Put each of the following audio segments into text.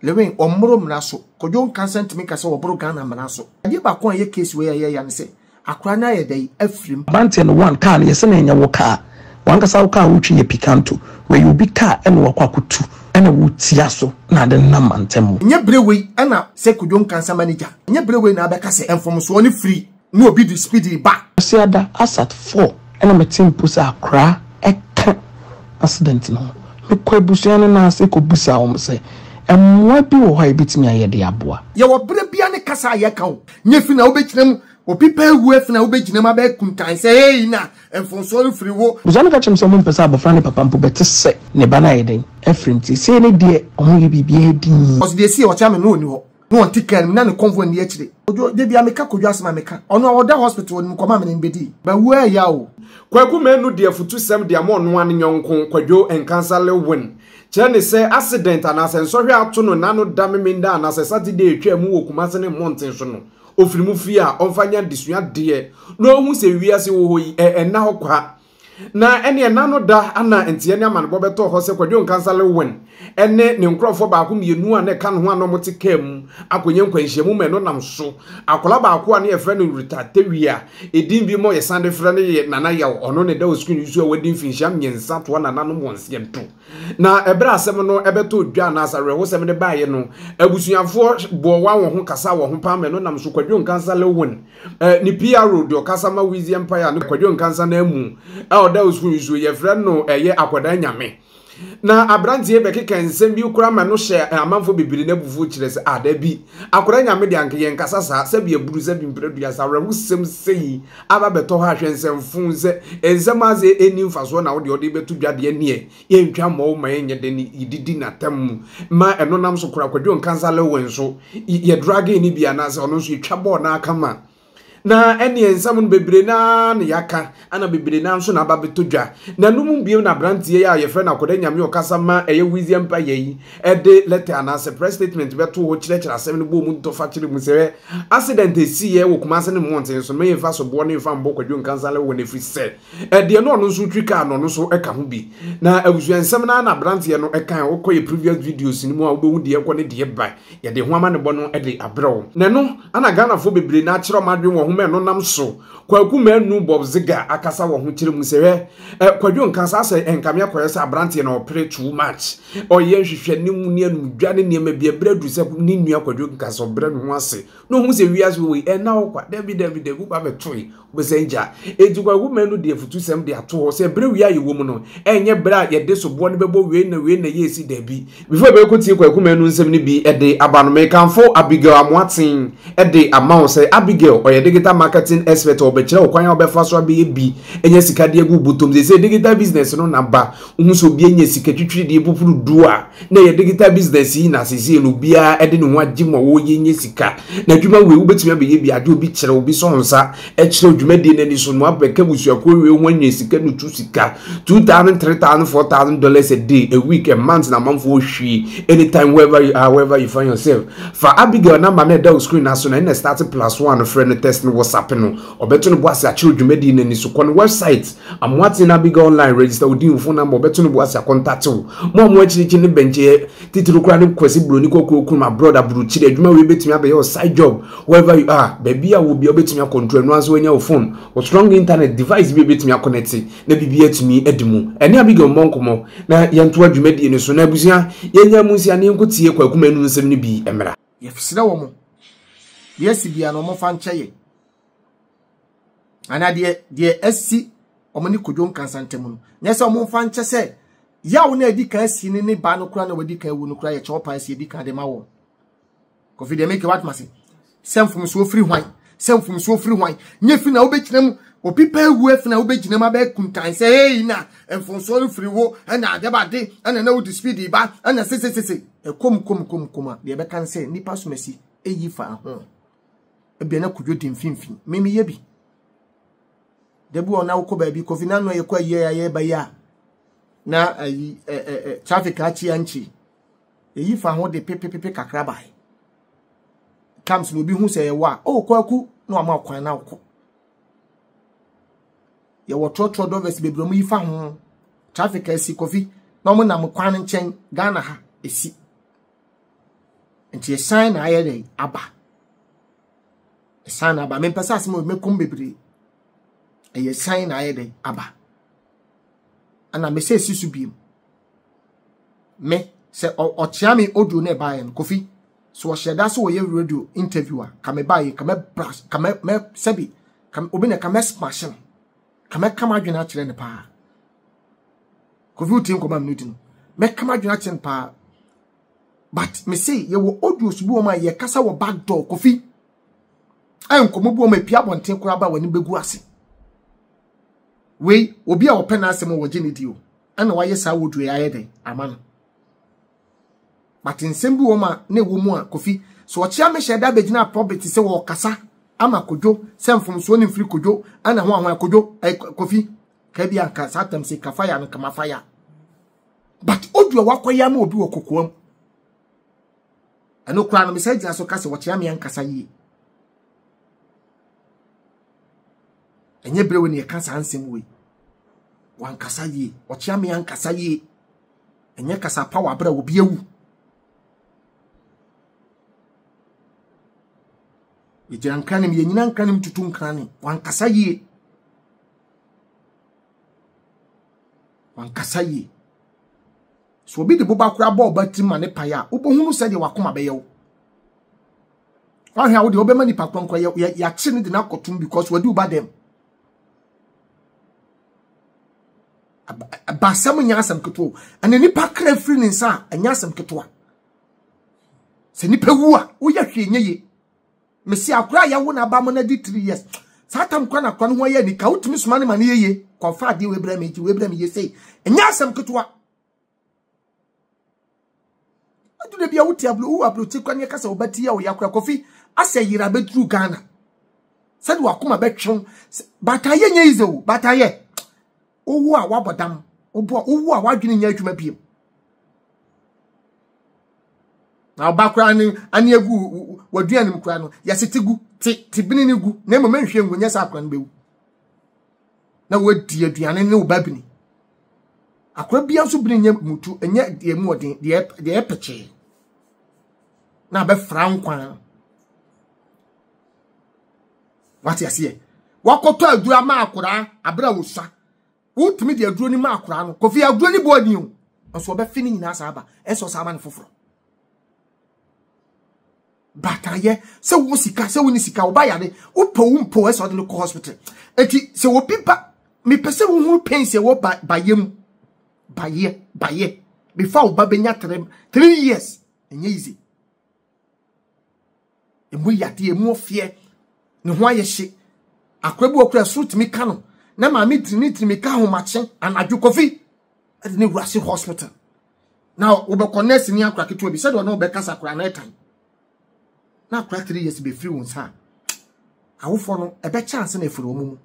Lewin, ɔmmoro mmara so. Kojo Nkansah ntumi nka sɛ wɔboro Ghana mmara so. Adeɛ baako a ɛyɛ case wei a ɛyɛ ya ne sɛ akwadaa no ayɛ dɛn? Afirim. Aberanteɛ no one car no yɛse na ɛnyɛ wo car wankasa wo car a wotwi yɛ picanto wei yɛ obi car ɛna wakɔ akotu ɛna wo tia so na ade no nam mantam mu. Ɛnyɛ bere wei ɛna sɛ Kojo Nkansah manager ɛnyɛ bere wei na abɛka sɛ mfomsoɔ no firi. na obi de spidey ba. Kwasiada Asat four na mete mpo sɛ akoraa ɛka accident no ho. Mekɔ abusua no nan ase kɔ bisaa wɔn sɛ mmoa bi wɔ hɔ a yɛbɛtumi ayɛ de aboa. Yɛwɔ berɛ biara ne kasa a yɛka o. Nyɛ fi na wobɛgyina mu. Obi pɛ awu afi na wobɛgyina mu abɛ kuntan sɛ hey na mfomsoɔ mfiri wo. Abusua no ka kyerɛ me sɛ wɔn mpɛ sɛ abɔfra ne papa mpo bɛte sɛ ne ba no ayɛ dɛn afiri nti sei ne deɛ wɔn yɛ biribiara dinn. Ɔse deɛ ɛsiiɛ ɔkyea me no ɔni hɔ. na ɔnte kaa no mu na ne convoy nni akyire. Kodwo, da bia meka Kodwo asɛm a meka. Ɔno a ɔda hospital, ɔnim nkɔmmɔ a me ne no bɛdii. Mawu a ɛya o. Kwaku Manu de afutusɛm de ama ɔnoaa ne yɔnko Kwadwo Nkansah Lilwin, kyerɛ ne sɛ accident anaasɛ nsɔhwɛ ato no na ano da Memeneda anaasɛ Saturday a ɛtwaa mu wɔ Kumase ne mmɔnten so no, ɔfiri mu fie a, ɔmfa nyɛ adesua deɛ na ɔhu sɛ wiase wɔ hɔ yi, ɛ, ɛnna hɔ kwa. Na ɛnneɛ nna no da a na nteɛ ne amanebɔ bɛtɔ hɔ sɛ Kwadwo Nkansah Lewin ne ne nkorɔfoɔ baako mmienu a na ɛka ne ho a na wɔte kaa mu akɔnya nkwanhyiamu ma ɛno nam so. Akwadaa baako a na yɛfrɛ no Ritah Tewia a edin bi mmɔ yɛsan de frɛ no Nana Yaw ɔno na ɛda wɔ screen yi so a wadi mfinhyia mmiɛnsa toa nananom wɔn seɛnto. Na ɛberɛ a asɛm no bɛtɔɔ dwa anaasɛ awerɛhosɛm no baeɛ no, abusuafoɔ bɔɔ wɔn wɔn ho kasaa wɔn ho paa ma ɛno nam so Kwadwo Nkansah Lewin, ne PRO deɛ ɔkasa ma Wizzy Empire no Kwadwo Nkansah no amu a ɔda Osun yi so, yɛfrɛ no ɛyɛ akwadaa nyame. Na aberanteɛ yi bɛkeka nsɛm bi koraa ma ɛno hyɛɛ amanfoɔ bebree no abufuo kyerɛ sɛ, ah dabi, akwadaa nyame deɛ anka yɛnkasa saa, sɛbi aburu, sɛbi mprɛ duasa, awerɛhosɛm sei aba bɛtɔ hɔ a hwɛ nsɛmfo nsɛ nsɛm adze enni mfasoɔ na wode ɔde bɛto dwa deɛ neɛ yɛntwa mmɔ wo ma ɛnyɛ dɛ ne yɛdidi n'atam mu ma ɛno nam so kora kwadwo nkansa lewe nso yɛ drage ne bi anaasɛ ɔno nso yɛtwa bɔɔ n'aka ma na ɛneɛ nsɛm no bebree naa na yɛaka ana bebree naa nso na aba bɛtɔ dwa na no mu bio na aberanteɛ yi a yɛfrɛ no akɔda nyame ɔkasa ma ɛyɛ wizi mpa yɛ yi de lɛtɛ anaasɛ press statement bɛto hɔ kyerɛkyerɛ asɛm no bɔ mu dɔfa kyerɛ mu sɛ accident a ɛsiiɛ wɔ Kumase ne mmɔnten so mɛyɛ mfa soboɔ ne mfa mbɔ Kwadwo Nkansale wɔn ɛfiri sɛ ɛdeɛ no ɔno nso twi kaa no ɔno nso ka ho bi na abusua nsɛm no ara na aberanteɛ no ɛka a wokɔ yɛ previous videos no mu a wobɛhu deɛ ɛkɔ ne deɛ ba yɛde ho amanebɔ no de abrɛ wo na ɛno ana Ghanafoɔ bebree na akyerɛ ɔmo adwene wɔ ho ma ɛno nam so Kwaku Manu Bob Ziga akasa wɔ ho kyerɛ mu sɛ hwɛ Kwadwo Nkansa sɛ ɛnkame akɔyɛ sɛ aberanteɛ no ɔpere too much ɔyɛ nhwehwɛne mu ne anumdwa ne nneɛma bi ɛbrɛ du sɛ ne nua kwadwo nkasa ɔbrɛ ne ho ase na ohun sɛ wiase wɔ yi ɛna wɔ kwa dabi dabi dabi wo ba bɛtoe wobɛsan gya eti kwaku mɛ no de afutu sɛm de ato hɔ sɛ ɛbrɛ wia yɛ wɔ mu no ɛnyɛ brɛ a yɛde soboɔ no bɛbɔ wei na wei na yɛ esi dabi before ɛbɛkɔ tie kwaku mɛ no nsɛm no bi ɛde aba no mekanfo Abigail Amoaten ɛde ama wo sɛ Abigail ɔyɛ digital marketing expert ɔbɛkyerɛ wo kwan a ɔbɛfa so abɛyɛ bi ɛnyɛ sika de agu bɔtɔm sɛ sɛ digital business no na ba Wohu sɛ obi anya sika twitwiridie popono du a na ɛyɛ digital business yi na sesie no obiara de ne ho agye mu a wɔreyɛ nya sika. Na adwuma wei wobɛtumi abɛyɛ bi agye obi kyerɛ obi sɔ nsa kyerɛ dwumadie no ani so no abɛka abusuakuo wei ho anwene sika no tu sika two thousand three thousand four thousand dollars a day a week a month na amanfoɔ hwie anytime wherever you are wherever you find yourself fa Abigail namba na ɛda wo screen aso na ɛna start plus one frɛ no test no whatsapp no ɔbɛto no bo ase akyerɛ dwumadie no ani so kɔ no website Amoatse na Abigail online register wo din, wo phone number, wɔbɛto no bo ase akɔntate wo. Mo a mo akyirikyiri no bɛnkyɛ titiriw koraa ne Kwasi Broni Kɔkɔɔ Krum abroad aburukyiri. Adwuma wei bɛtumi abɛyɛ wo side job wherever you are. Baabi a wo wɔ biara wobɛtumi a control ɛno ara nso woanya wo phone, wo strong internet device bi a ɛbɛtumi a connecte na biribiara atumi adi mu. Ɛne Abigail mmɔ nkɔmmɔ na yɛntoa dwumadie no so. Na abusua, yɛnyaa mu nsia na yɛnkɔtie Kwaku Manu nsɛm no bi mmra. Yɛsrɛ wɔn, deɛ asi biara no wɔmfa nkyɛ yɛn. anaa deɛ deɛ asi wɔn ne kodwo nkansa ntam no nyɛ sɛ wɔn mfa nkyɛ sɛ yaw na edi kan si ne ne ba no kora na wadi kan wu no kora yɛ kyɛw paa si edi kan de ma wɔn kofi deɛ meke watoma se sɛ mfomsoɔ firi hwan sɛ mfomsoɔ firi hwan nyɛ fi na wobɛgyina mu obi pɛ awu afi na wobɛgyina mu abɛɛ kuntan sɛ ei na mfomsoɔ no firi wo ɛna adɛbade ɛna na wode speed ba ɛna sesesese ɛkom kom kom kom a deɛ ɛbɛka ne sɛ nnipa somasi ɛyi fa ho ebia na kudwo di mfimfini me meyɛ bi da bi wɔ na wokɔ baabi kofi na no yɛkɔ ayie a yɛba yi a na ayi ɛ ɛ ɛ traffic akyi ankyi eyi fa ho de pepepepe kakra bae comes na obi hu sɛ yɛwɔ a oh kwaku na wama ɔkwan na wokɔ yɛwɔ trɔtrɔ drivers bebree mu yi fa ho traffic asi kofi na wɔn nam kwan nkyɛn ghana ha esi. nti ɛsan na ayɛ dɛn aba ɛsan na aba mempɛ sɛ asɛm mɛkom bebree ɛyɛ san na ayɛ dɛn aba ɛna mesɛ ɛsi so biem me sɛ ɔkyea me audio na ɛbaeɛ no kofi so ɔhyɛ da sɛ wɔyɛ radio interview a ka mebaeɛ ka mɛbra ka mɛ sɛbi obi na ka mɛsmash no ka mɛka m'adwene akyerɛ no paa Kofi wotie nkɔmɔ a mene di no. Mɛka m'adwene akyɛn paa. But me se yɛwɔ audios bi wɔn a yɛkasa wɔ back door Kofi. A nkɔmɔ bi wɔn a epia abɔnten koraa ba w'anim bɛgu ase. Wei obi a ɔpɛ n'asɛm wɔ wɔgye ne di o. Ɛna wayɛ saa audio yɛ ayɛ dɛn ama no. But nsɛm bi wɔn a na ɛwɔ mu a Kofi so ɔkyea me hyɛ da bɛgyina pɔbit sɛ wɔkasa ama kodwo sɛ mfomsoɔ ne mfiri kodwo ɛna ho ahoa kodwo Kofi Kabi anka saa tam se kafa ya no kama fa ya. But odu a wakɔ ya ma obi wɔ kokoam. Ɛno koraa no me sɛ gyina so ka sɛ wɔkyea me ankasa yie. Ɛnyɛ berewe ne ɛka saa nsɛm wei. Wankasa yie, ɔkyea me ankasa yie. Ɛnyɛ kasa pa wɔ abere a obi awu. Yɛgyina nkranim, yɛnyina nkranim tutu nkranim. Wankasa yie. Wankasa yie. Sɛ obi de boba koraa bɔ ɔba tirim ma ne pae a, wobɛhunu sɛdeɛ wakoma bɛyɛ wo. Wahwɛ a wodeɛ wobɛma nipa korɔ nkora yɛakye no de no akɔtom because wadi wo ba dɛm. Ba asɛm nyɛ asɛm ketewa o. Ɛna nipa kra firi ne nsa a ɛnyɛ asɛm ketewa. Sɛ nipa wu a, woyɛ hwee nyɛ yie. Mesi akora a yɛwo no aba mo no adi three years. Saa tam kora na akora no ho ayɛ anika. Wotumi soma ne ma no yeye. Kɔfa adeɛ wei brɛ me nti wei brɛ me yie sei. Ɛnyɛ asɛm ketewa. Adu da bi a wote aburo wo aburokyi kora ne ɛka sɛ wo ba ti yɛ wo ya kora kɔfi asɛ yera bɛduru Ghana. Sɛde wakoma bɛtwew. Baataayɛ nyɛ yize o. Baataayɛ. wowu a woabɔ dam wobu a wowu a woadwene nyɛ adwuma biem na ɔba koraa ne ani agu waduane mu koraa no yɛse te gu te te bini ne gu na mmom nhwɛ ngu nyɛ sɛ akora no bɛwu na wadi aduane ne wo ba bini akora bia nso bini nyɛ mutu ɛnyɛ deɛ mu ɔden deɛ deɛ ɛpɛkyɛɛ na abɛfra nkwan Wate aseɛ? Wakɔtɔ aduro ama akoraa abere a wɔsua. Wotumi de aduro no ma akoraa no. Kofi aduro no bɔɔ ni o. Nso ɔbɛfe ne nyinaa saa ba. Ɛsɛ ɔsaa ma no foforɔ. Bataayɛ sɛ wo sika sɛ wo ne sika wo ba yare wopɛ wo mpo ɛsɛ ɔde no kɔ hospital. Eti sɛ obi ba mepɛ sɛ wohunu pain sɛ wɔ ba bayɛ mu. Bayɛ bayɛ. Before wo ba bɛnya three, three years. Ɛnyɛ easy. Emu yade, emu ɔfeɛ, ne ho ayɛ hye. Akora bi wɔ kora ɛsoro tumi ka no. Na maame tiri ne tiri mi ka ahomakye anadwo kofi. Ɛde ne wura si hospital. Na wɔbɛkɔ nurse ni akora ketewa bi sɛdeɛ ɔne ɔbɛkasa akora na ɛtan. Na akora three years bɛfiri wɔn nsa a awofoɔ no ɛbɛkyɛ ansa na ɛfiri wɔn mu.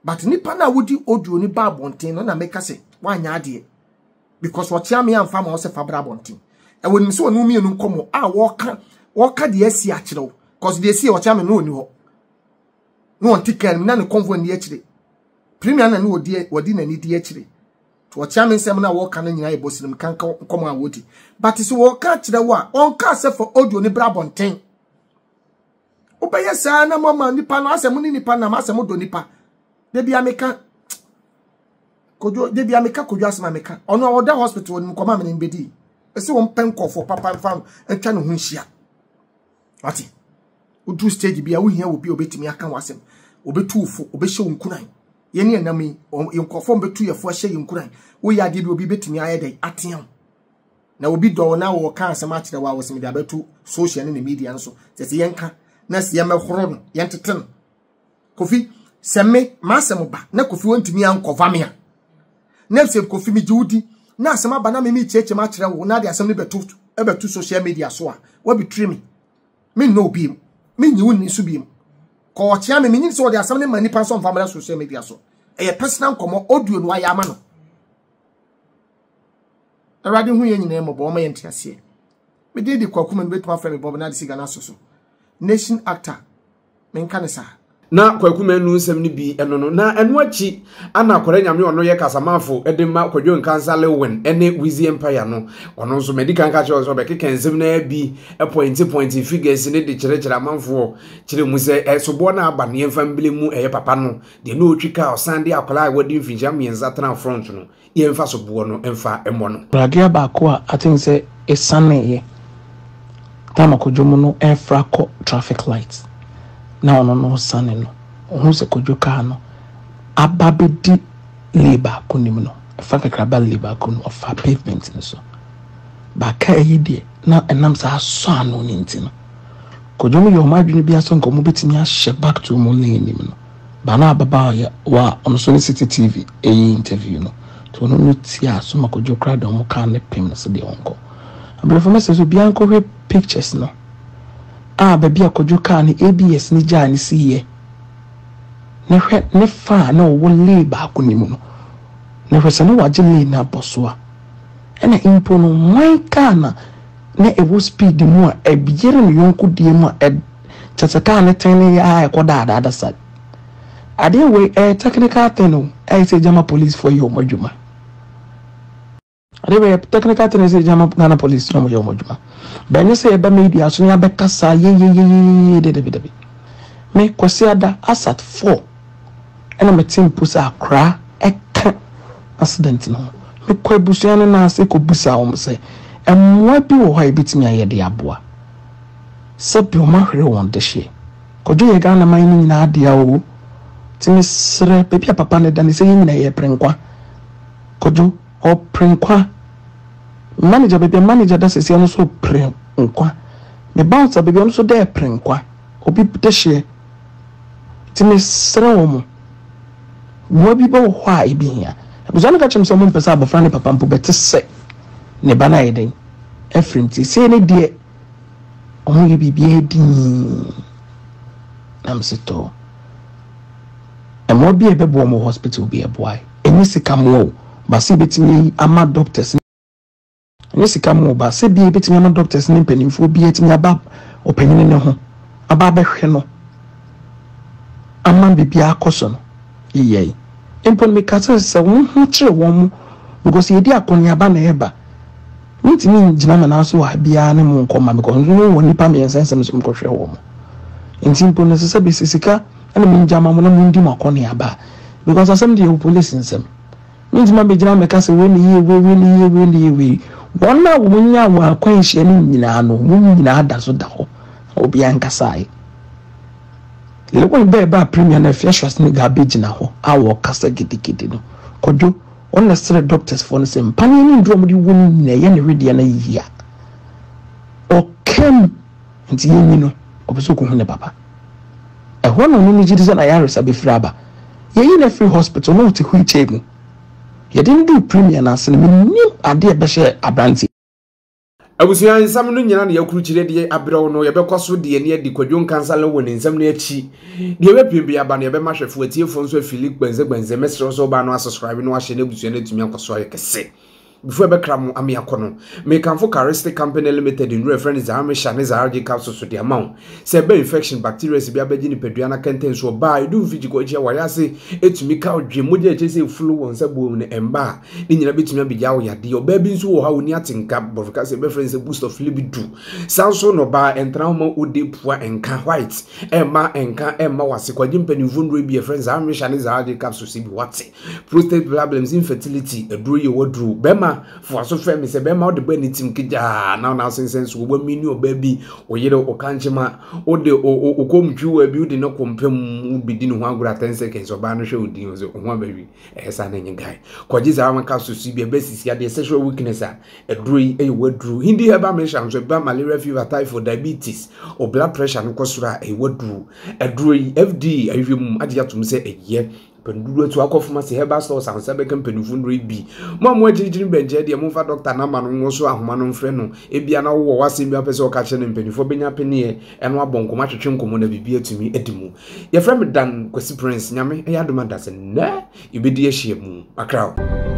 but nipa na wodi audio ni ba abɔnten no na meka sɛ wanyɛ adeɛ because wɔkyea me amfa ma ɔsɛ fabra abɔnten ɛwɔ nim sɛ wɔn mmienu nkɔmɔ a wɔka wɔka deɛ asi akyerɛ wo because deɛ asi wɔkyea me no wɔni hɔ na wɔn ti kan mu na ne kɔnfɔ ni akyire premier na ne wɔdi wɔdi n'ani di akyire to wɔkyea me nsɛm na wɔka no nyinaa yɛ bɔsirim kanka nkɔmɔ a wɔdi but sɛ wɔka akyerɛ wo a wɔnka asɛ fa audio ne bra abɔnten wobɛyɛ saa na moama nipa no asɛ mo ne nipa nam asɛ modɔ nipa da bia meka kodwo da bia meka kodwo asɛm a meka ɔno a ɔda hospital no mekɔma mene mbɛdii ɛsɛ wɔmpɛ nkɔfoɔ papa mfa no atwa ne ho nhyia wate woduru stage bi a wohia wɔ bi a obɛtumi aka wo asɛm obɛtu wo fo obɛhyɛ wo nkunan yɛne ɛnam yi nkɔfoɔ mbɛtu yɛfoɔ ahyɛ yɛ nkunan woyɛ adeɛ bi obi bɛtumi ayɛ dɛn atea wo na obi dɔ wo na wɔka asɛm akyerɛ wo a wɔsɛ mede abɛto social ne ne media no so sɛ sɛ yɛnka na sɛ yɛmɛhoro no yɛntete no kofi sɛ me m'asɛm ba na kofi wɔntumi ankɔva me a na sɛ kofi megye wo di na asɛm aba na meme kyerɛkyerɛm akyerɛ wo na de asɛm no bɛto ɛbɛto social media so a wabitiri me me nnɔ obi mu me nyi wo nni so bi mu kɔ ɔkyea me menyi sɛ wɔde asɛm no ma nipa nso mfa mmra social media so ɛyɛ personal nkɔmmɔ audio no ayɛ ama no Awurade hu yɛn nyinaa mmɔbɔ, ɔma yɛn nteaseɛ. Me din de Kwaku Manu, bɛtumi afrɛ me Bob na de si Ghana so so. Nation actor, menka ne saa. Na Kwaku Manu nsɛm no bi ɛno no, na ɛno akyi ana Kwara Nyame ɔno yɛ kasamafo de ma Kwadwo Nkansah Lewin ne Wizzy Empire no. Ɔno nso madi kan ka kyerɛ sɛ ɔbɛkeka nsɛm no ara bi pɔinte pɔinte figures ne de kyerɛkyerɛ amanfoɔ kyerɛ mu sɛ ɛsoboɔ no aba no yɛmfa mbele mu ɛyɛ papa no deɛ na ɔtwi ka ɔsan de akwadaa a wɔde mfinhyia mmiɛnsa tena front no yɛmfa soboɔ no mfa mmɔ no. Radea baako a I think sɛ ɛsaneeɛ time a Kwadwo mu no refra kɔ traffic light na ɔno no resane no, ɔhunu sɛ Kwadwo kaa no aba abɛdi lane baako no mu no, ɛfa kakra ba lane baako no mu, ɔfaa pavement no so. Ba kaa yi deɛ, na ɛnam sɛ asɔ ano no nti no, Kwadwo mu yɛ wɔn adwene bi ara sɛ nka wɔbɛtumi ahyɛ back to wɔn lane no mu no. Ba no a ababaawa yɛ wa a ɔno nso ne Citi TV yɛɛ interview no, nti ɔno no tiaa Soma Kwadwo koraa deɛ ɔmo kaa ne pem no sɛ deɛ ɔnkɔ. Abrɛfo mɛsrɛ sɛ obiara nkɔhwɛ pictures no a baabi a Kwadwo kaa ne ABS no gyaa no siiɛ na hwɛ ne fa a na ɔwɔ lane baako no mu no na hwɛ sɛ na wagye lane no abɔ so a. Ɛna mpo no mwan kaa na na ɛwɔ speed mu a ɛyere ne yɔnko deɛ mu a kyɛ sɛ kaa ne tɛn ne yɛ a ɛkɔ daadaada sa adeɛ wei ɛyɛ technical thing o ɛyɛ sɛ gyama police fo yɛ wɔn adwuma adeɛ wei yɛ technical thing sɛ gyama Ghana police yɛ wɔn yɛ wɔn adwuma bɛnyɛ sɛ yɛba media so ne abɛkasa yeyeyeyeye dedebedebi me kwasi ada asat four. ɛna mete mpo sɛ akoraa ɛka accident no ho mekɔ abusua no nan ase kɔ bisa wɔn sɛ mmoa bi wɔ hɔ a yɛbɛtumi ayɛ de aboa sɛbi wɔn ahwere wɔn dehyeɛ kɔdwo yɛ Ghana man no nyinaa dea o ti mesrɛ baabi a papa no da ne sɛ yɛ nyina yɛ prenkwa kɔdwo ɔ prenkwa manager baabi a manager da sɛsiɛ no so prenkwa me bouncer baabi a no so dɛ prenkwa obi dehyeɛ Nti mesrɛ wɔn, mmoa bi bɛwɔ hɔ a ebi hia. Abusua no ka kyerɛ me sɛ wɔmpɛ sɛ abɔfra ne papa mpo bɛte sɛ ne ba no ayɛ dɛn afiri nti sei ne deɛ wɔyɛ biribiara dii na mese tɔɔ mmoa bi a ɛbɛboa wɔn hospital bi ɛboae ɛnyɛ sika mmoa o baasa ebɛtumi ama doctors Ɛnyɛ sika mu ɔba, sɛ ebia yɛbɛtumi ama doctors ne mpanimfoɔ biara atumi aba ɔpanin no ho aba abɛhwɛ no ama biribiara akɔ so no, yɛyɛe. Mpo no meka sɛ sɛ wɔn ho kyere wɔn because yɛdi akɔneaba na ɛreba. Mentumi ngyina me nan so wɔ ha biara ne mo nkɔma because nso mo wɔ nnipa mmiɛnsa nsɛm nso mekɔhwɛ wɔn. Nti mpo no ɛsɛ sɛ bɛsi sika na mengya ma mo na mondi mo akɔneaba because asɛm deɛ ɛwɔ polisi nsam. Mentumi abɛgyina mɛka sɛ wei ne yie, wei wei ne yie, wei ne yie wei. Wɔn a wɔnyaa wɔn akwanhyia no nyinaa no, wɔn nyinaa da so da hɔ. Obiara nkasaeɛ. Lewin bɛɛ baa premier no afia Schwarzenegger abɛgyina hɔ a wɔkasa gidigidi no. Kwadwo, wɔn na srɛ doctors foɔ no sɛ mpaneɛ ne nnuro a wɔde wɔ no nyinaa yɛ ne wedeɛ no yie a. Ɔkam. Enti yenyin no, ɔpɛ sɛ okohu ne papa. Ɛhɔ na ɔne no gye di sɛ n'ayaresa befiri aba. Yeyi no afiri hospital na ɔte wheelchair mu. Yɛde no duu Premier no ase no, minnim ade a ɛbɛhyɛɛ aberante yi. Abusua nsɛm no nyinaa na yɛakrukyire de abrɛ wo no. Yɛbɛkɔ so de yɛn ani adi Kwadwo Nkansah wɔ ne nsɛm no akyi. Deɛ wapue biara ba no, yɛbɛma ahwɛfo atiefoɔ nso afili. Gbɛnse Gbɛnse, mɛsrɛ wo sɛ wobaa no a subscribe na wahyɛ na abusua no atumi akɔ so ayɛ kɛse. Before ɛbɛkra mo ama yɛakɔ no, mekamfo Carestic Company Limited nnuru a ɛfrɛ no Zaarmesha ne Zaargye capsules so de ama wo. Sɛ ɛba infection, bacterias bi abɛgye nipadua no akɛntɛnso ɔbaa a, ɛdu mfe gyikɔɔkyi a, wayɛ ase atumi ka wo dwe, mogya a ɛkyerɛ sɛ ɛfulu wɔ nsa buom no ɛmma a, ne nyinaa bɛtumi abɛgyaa wo yadeɛ. Ɔbaa bi nso wɔ hɔ a ɔnni atenka, Borɔfo kasa yɛbɛfrɛ no sɛ boost of libido. Saa nso na ɔbaa ɛntena hɔ ma wo deep a ɛnka, white, ɛmma ɛnka ɛmma wo ase. Kwagye mpanimfoɔ nnuru bi a ɛfrɛ no Zaarmesha ne Zaargye capsules bi, wate. Prostate problems, infertility, aduro yɛ waduro. Bɛrima foaso fɛ mi sɛ bɛrima ɔde bɛn ne tim kegyaa na ɔna asensɛn so wɔn mi ne ɔbaa bi ɔyere ɔkankyema ɔde ɔkɔm twi wɔ bi ɔde ne kɔmpem bi di ne ho agorɔ ten seconds ɔbaa no hwɛ ɔdi ɔsɛ ɔho abɛwi ɛyɛ saa na nye guy kɔgye saa wɔn ka soso bi ɛbɛ sisi adeɛ sexual weakness a aduro yi ɛyɛ waduro hindi herbal mixture nso ɛba malaria fever typhoid diabetes ɔ blood pressure no kɔ soro a ɛyɛ waduro aduro yi fda ahwehwɛ mu agye atom sɛ ɛyɛ Mpɛn dodoɔ nso akɔ fam ase. Herbal stores ahosan bɛka mpanyinfoɔ nnuro yi bi. Mo a mo agyirigyiri bɛnkyɛn deɛ, momfa dɔkta namba no nwo so ahoma no mfrɛ no. Ebia na wowɔ w'asɛm bi a wopɛ sɛ ɔka kyerɛ no. Mpanyinfoɔ bɛnya apeneɛ ɛno abɔ nkɔmmɔ, atwetwe nkɔmmɔ na biribi atumi adi mu. Yɛfrɛ me Dan Kwasi Prince. Nyame yɛ adom a Dase'nnɛ yɛbɛdi ahyia mu. Makra o.